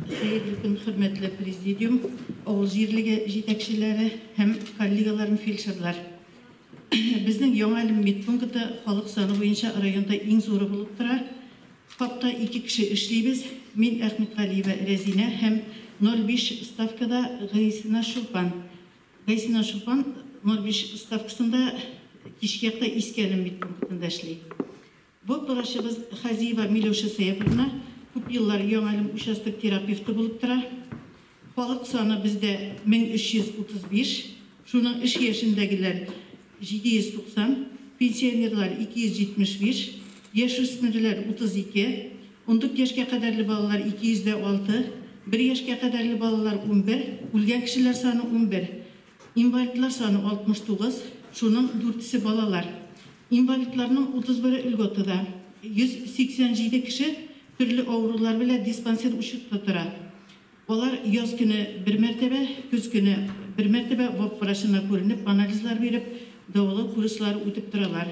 Хәерле көн, хөрмәтле президиум, авыл җирлеге җитәкчеләре һәм коллегаларым фельдшерлар. Безнең Яңа Әлем медпункты халык саны буенча районда иң зуры булып тора. Хакта ике кеше эшлибез. Мин Әхмәтгалиева Рәзинә һәм 05 ставкада Гайсина Чулпан. Гайсина Чулпан 05 ставкасында кичке якта Иске Әлем медпунктында эшли. Бу торачыбыз Хазиева Милюша Сәяповна күп еллар Яңалым участок терапевты булып тора. Халык саны бездә 1335, шуның эш яшендәгеләр 790, пенсионерлар 275, яшүсмерләр 32, ундүрт яшькә кадәрле балалар 206, бер яшькә кадәрле балалар унбер, үлгән кешеләр саны унбер. Инвалидлар саны 69, шуның дүртесе балалар. Инвалидларның 31-е льготада, 187 кеше төрле авырулар белән диспансер учетта тора. Алар яз көне бер мәртәбә, көз көне бер мәртәбә ВОП врачына күренеп, анализлар биреп, дәвалау курслары үтеп торалар.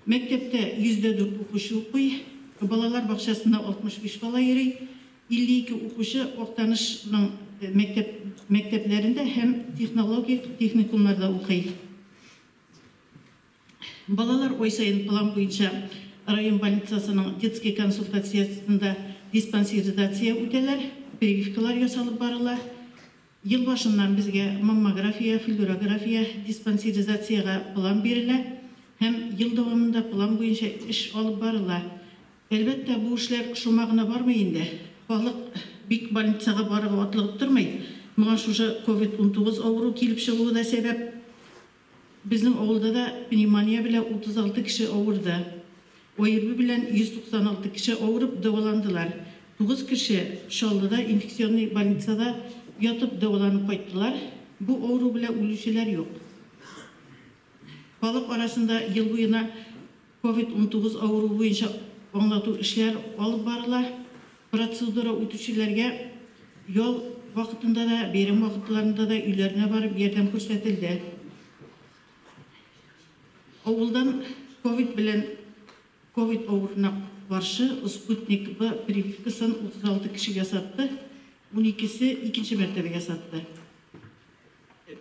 Мәктәптә 104 укучы укый, балалар бакчасында 65 бала йөри. 52 укучы Актанышның мәктәп мәктәпләрендә һәм технологик техникумнарда укый. Балалар ай саен план буенча район больницасының детский консультациясендә диспансеризация үтәләр, прививкалар ясалып барыла. Ел башыннан безгә маммография, флюорография, диспансеризациягә план бирелә һәм ел дәвамында план буенча эш алып барыла. Әлбәттә, бу эшләр шома гына бармый инде. Халык бик больницага барырга атлыгып тормый. Моңа шушы ковид-унтугыз авыру килеп чыгуы да сәбәп. Безнең авылда да пневмония белән 36 кеше авырды. ОРВИ белән 196 кеше авырып дәваландылар. Тугыз кеше Чаллыда инфекционный больницада ятып дәваланып кайттылар. Бу авыру белән үлүчеләр юк. Халык арасында ел буена Ковид унтугыз авыруы буенча аңлату эшләр алып барыла. Процедура үтүчеләргә ял вакытында да, бәйрәм вакытларында да өйләренә барып ярдәм күрсәтелде. Авылдан ковид белән ковид авыруына каршы Спутник Б прививкасын 36 кеше ясатты, уникесе икенче мәртәбә ясатты.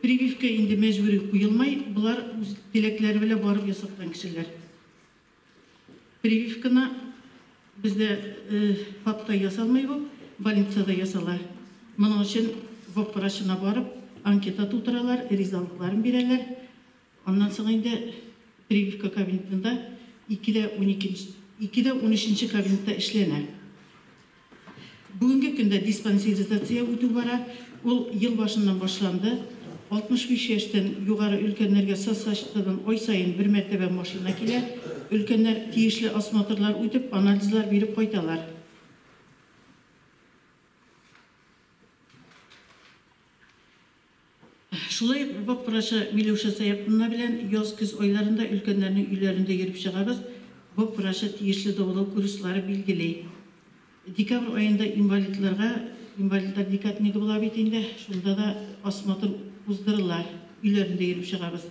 Прививка инде мәҗбүри куелмый, болар үз теләкләре белән барып ясаткан кешеләр. Прививканы бездә ФАПта ясалмый бу, больницада ясала. Моның өчен ВОП врачына барып, анкета тутыралар, ризалыкларын бирәләр. Аннан соң инде прививка кабинетында ике дә унике, ике дә унөченче кабинетта эшләнә. Бүгенге көндә диспансеризация үтү бара. Ул ел башыннан башланды. 65 яшьтән югары өлкәннәргә соцзащитадан ай саен бер мәртәбә машина килә. Өлкәннәр тиешле осмотрлар үтеп, анализлар биреп кайталар. Шулай ук Бабак врачы Миләүшә Сәяпуллина белән яз-көз айларында өлкәннәрнең өйләрендә йөреп чыгабыз, Бабак врачы тиешле дәвалау курслары билгели. Декабрь аенда инвалидларга, инвалидлар декаднигы була бит инде, шунда да осмотр уздырыла, өйләрендә йөреп чыгабыз.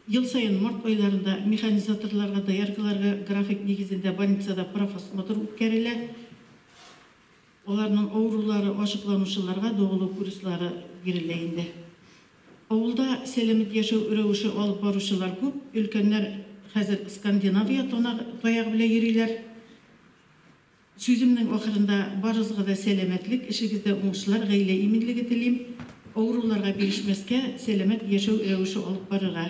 Ел саен март айларында механизаторларга, дояркаларга график нигезендә больницада профосмотр үткәрелә. Аларның авырулары ачыкланучыларга дәвалау курслары бирелә инде. Авылда сәламәт яшәү рәвеше алып баручылар күп, өлкәннәр хәзер Скандинавия таягы белән йөриләр. Сүземнең ахырында барыгызга да сәламәтлек, эшегездә уңышлар, гаилә иминлеге телим. Авыруларга бирешмәскә, сәламәт яшәү рәвеше алып барырга.